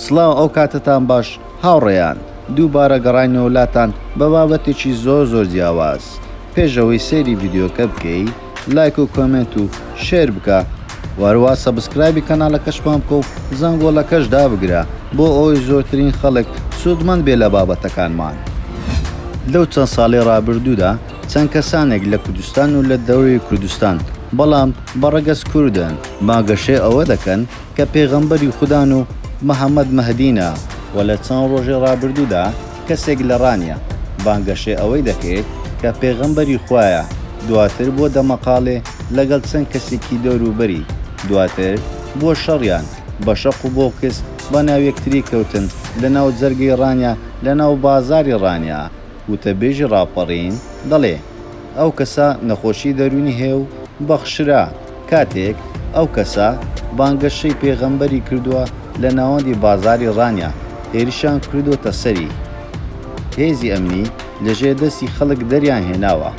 سڵاو ئەوکاتەتان باش هاوڕێیان، دووبارە گەڕاینەوە لاتان بە بابەتێکی زۆر زۆر جیاواز، پێش ئەوەی سەیری ڤیدیۆکە بکەی لایک و کۆمێنت و شێر بکە و هەروا سەبسکرایبی کەناڵەکەشمان بکە و زەنگۆڵەکەش دابگرە بۆ ئەوەی زۆرترین خەڵک سوودمەند بێ لە بابەتەکانمان. لەو چەند ساڵەی ڕابردوودا چەند کەسانێک لە کوردستان و لە دەورەی کوردستان بەڵام بە ڕەگەز کوردن بانگەشەی ئەوە دەکەن، کە پێغەمبەری خودان و محمد مەهدینە و لە چەند ڕۆژی ڕابردوودا کەسێک لە ڕانیە بانگەشەی ئەوەی دەکرد کە پێغەمبەری خوایە دواتر بووە دەمەقاڵێ لەگەڵ چەند کەسێکی دەوروبەری دواتر بووە شەڕیان بە شەق و بۆکس بەناو یەکتری کەوتن لە ناو جەرگەی ڕانیە لە ناو بازاری ڕانیە وتەبێژی ڕاپەڕین دەڵێ ئەو کەسە نەخۆشی دەروونی هەیە و بەخشرا. کاتێک ئەو کەسە بانگەشەی پێغەمبەری کردووە لە ناوەندی بازاری ڕانیە هێرشیان کردۆتە سەری هێزی ئەمنی لە ژێر دەستی خەڵک دەریان هێناوە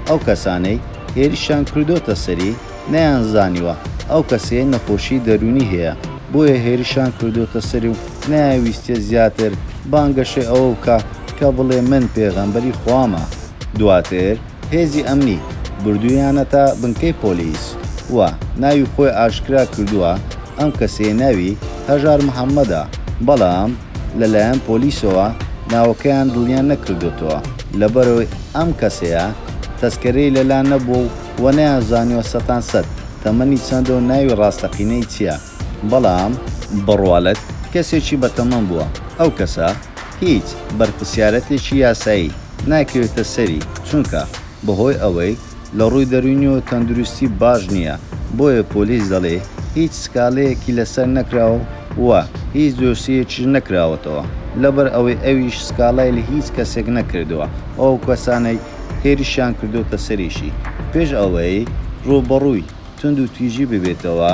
ئەو کەسانەی هێرشیان کردۆتە سەری نەیان زانیوە ئەو کەسەیە نەخۆشی دەرونی هەیە بۆیە هێرشیان کردۆتە سەری و نایانویستیە زیاتر بانگەشەی ئەوە بکا کە بڵێ من پێغەمبەری خوامە دواتر هێزی ئەمنی بردوویانەتە بنکەی پۆلیس و ناوی خۆی ئاشکرا کردووە، ئەم کەسەیە ناوی، هەژار محەممەدە، بەڵام لەلایەن پۆلیسەوە ناوەکەیان دڵنیا نەکردۆتەوە، لەبەرئەوەی ئەم کەسەیە تەسکەرەی لەلا نەبووە و نەیانزانیوە سەتان سەت تەمەنی چەندە و ناوی ڕاستەقینەی چییە، بەڵام. بڕوالەت کەسێکی بەتەمەن بووە، ئەو کەسە. هیچ بەرپرسیارەتێکی یاسایی ناکەوێتە سەری، چونکە بەهۆی ئەوەی لە ڕووی دەروونیەوە تەندروستی باش نییە، بۆیە پۆلیس دەڵێ هیچ سکاڵەیەکی لەسەر نەکراوە و هیچ دۆسیەیەکیش نەکراوەتەوە، لەبەر ئەوەی ئەویش سکاڵای لە هیچ کەسێک نەکردووە و ئەو کەسانەی هێرشیان کردۆتە سەریشی پێش ئەوەی ڕووبەڕووی. توندوتیژی ببێتەوە،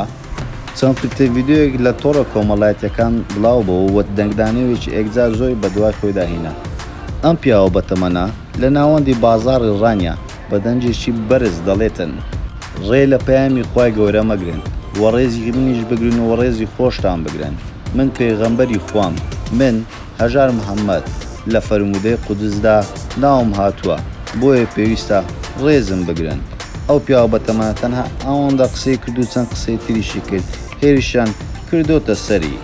چەند کلتە ڤیدیۆیەک لە تۆڕە کۆمەڵایەتییەکان بڵاو بوو و دەنگدانەوێکی ئێکجار زۆری بە دوای خۆیدا هینا. ئەم پیاوە بەتەمەنە، لە ناوەندی بازاڕی ڕانیە، بە دەنگێکی بەرز دەڵێتن. ڕێ لە پەیامی خوای گەورە مەگرن و ڕێزی منیش بگرن و ڕێزی خۆشتان بگرن، من پێغەمبەری خوام، من، هەژار محەمەد، لە فەرموودەی قودسدا ناوم هاتووە، بۆیە پێویستە ڕێزم بگرن. ئەو پیاوە بەتەمەنە تەنها ئەوەندە قسەی کرد و چەند قسەی تریشی کرد، هێرشیان کردۆتە سەری.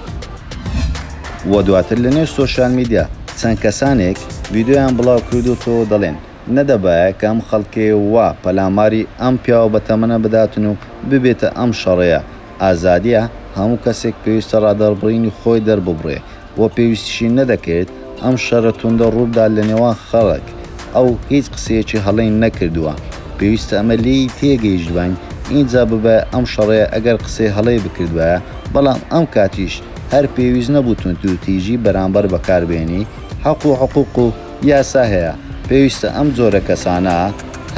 وە دواتر لە نێو سۆشیال میدیا چەند کەسانێک ڤیدیۆیان بڵاو کردۆتەوە و دەڵێن، نەدەبایە کە ئەم خەڵکەی وا پەلاماری ئەم پیاوە بەتەمەنە بداتن و ببێتە ئەم شەڕەیە، ئازادیە، هەموو کەسێک پێویستە ڕادەربڕینی خۆی دەرببڕێ و پێویستیشی نەدەکرد ئەم شەرە توندە ڕووبدات لە نێوان خەڵک، ئەو هیچ قسەیەکی هەڵەی نەکردووە، پێویستە ئەمە لێی تێگەیشتباین، ئینجا ببایە ئەم شەڕەیە ئەگەر قسەی هەڵەی بکردبایە، بەڵام ئەم کاتیش هەر پێویست نەبوو توندوتیژی بەرامبەر بەکاربێنی، حەق و حقوق و یاسا هەیە، پێویستە ئەم جۆرە کەسانە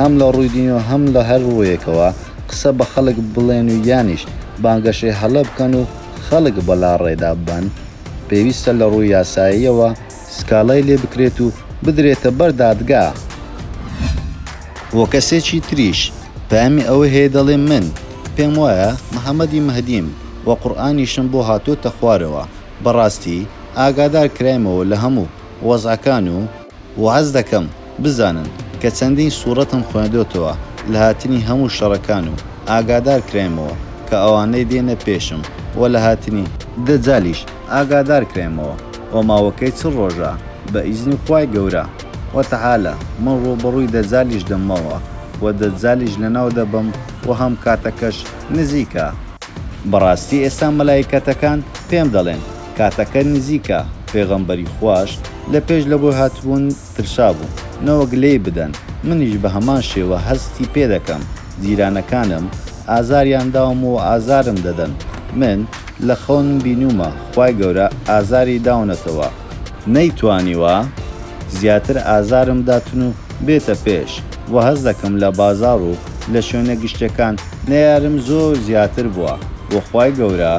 هەم لە ڕووی دینی و هەم لە هەر ڕوویەکەوە، قسە بە خەڵک بڵێن و یانیش بانگەشەی هەڵە بکەن و خەڵک بەلاڕێدا ببەن، پێویستە لە ڕووی یاساییەوە سکاڵای لێ بکرێت و بدرێتە بەر دادگا. وە کەسێکی تریش پەیامی ئەوەی هەیە دەڵێ من پێم وایە محمدی مهدیم وە قورئانیشم بۆ هاتۆتە خوارەوە بەڕاستی ئاگادار کرایمەوە لە هەموو وەزعەکان و، واز دەکەم بزانن کە چەندین سوڕەتم خوێندۆتەوە لە هاتنی هەموو شەڕەکان و ئاگادار کراینمەوە کە ئەوانەی دێنە پێشم و لە هاتنی دەجالیش ئاگادار کراینمەوە و ماوەکەی چل ڕۆژە بە ئیزنی خوای گەورە و تەعالا من ڕووبەڕووی دەجالیش دەممەوە و دەجالیش لەناو دەبەم و هەم کاتەکەش نزیکە. بەڕاستی ئێستا مەلایکەتەکان پێم دەڵێن کاتەکە نزیکە، پێغەمبەری خواش لە پێش لەوەی هاتبوون ترسابوو، نەوەک لێی بدەن، منیش بە هەمان شێوە هەستی پێ دەکەم، جیرانەکانم ئازاریان داوم و ئازارم دەدەن، من لە خەونم بینیومە خوای گەورە ئازاری داونەتەوە، نەیتوانیوە زیاتر ئازارم داتن و بێتە پێش، وە هەست دەکەم لە بازاڕ و لە شوێنە گشتیەکان نەیارم زۆر زیاتر بووە و خوای گەورە.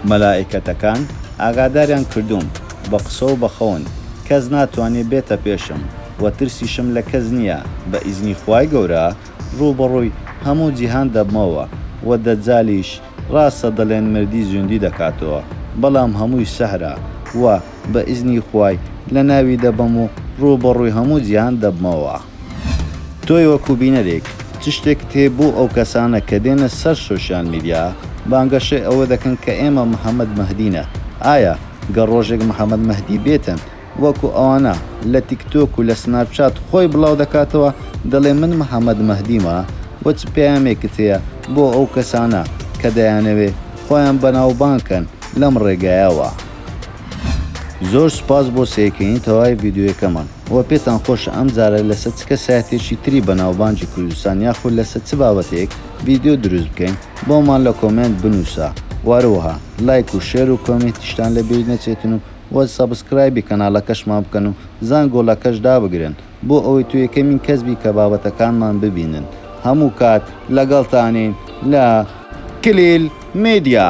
مەلائیکەتەکان ئاگاداریان کردووم، بە قسە و بە خەون، کەس ناتوانێ بێتە پێشم و ترسیشم لە کەس نییە، بە ئیزنی خوای گەورە ڕووبەڕووی هەموو جیهان دەبمەوە و دەجالیش ڕاستە دەڵێن مردی زیندووی دەکاتەوە، بەڵام هەمووی سحرە و بە ئیزنی خوای لەناوی دەبەم و ڕووبەڕووی هەموو جیهان دەبمەوە. تۆی وەکو بینەرێک چ شتێکت هەیە بۆ ئەو کەسانە کە دێنە سەر سۆشیال میدیا بانگەشەی ئەوە دەکەن کە ئێمە محمد مهدینە ئایا گەر ڕۆژێک محمد مهدی بێتن وەکو ئەوانە لە تیک تۆک و لە سناپ چات خۆی بڵاو دەکاتەوە دەڵێ من محمد مهدیمە وە چ پەیامێکت هەیە بۆ ئەو کەسانە کە دەیانەوێ خۆیان بەناوبانگ کەن لەم ڕێگایەوە. زۆر سوپاس بۆ سەیرکردنی تەواوی ڤیدیۆیەکەمان وە پێتان خۆشە ئەم جارە لەسەر چ کەسایەتیەکی تری بەناوبانگی کوردستان یاخود لەسەر چ بابەتێک ڤیدیۆ دروست بکەین بۆمان لە کۆمێنت بنوسە وە هەروەها لایک و شێر و کۆمێنتیشتان لە بیر نەچێتن و وە سەبسکرایبی کەناڵەکەشمان بکەن و زەنگۆڵەکەش دابگرن بۆ ئەوەی تۆ یەکەمین کەس بی کە بابەتەکانمان ببینن هەموو کات لەگەڵتانین لە کلیل میدیا.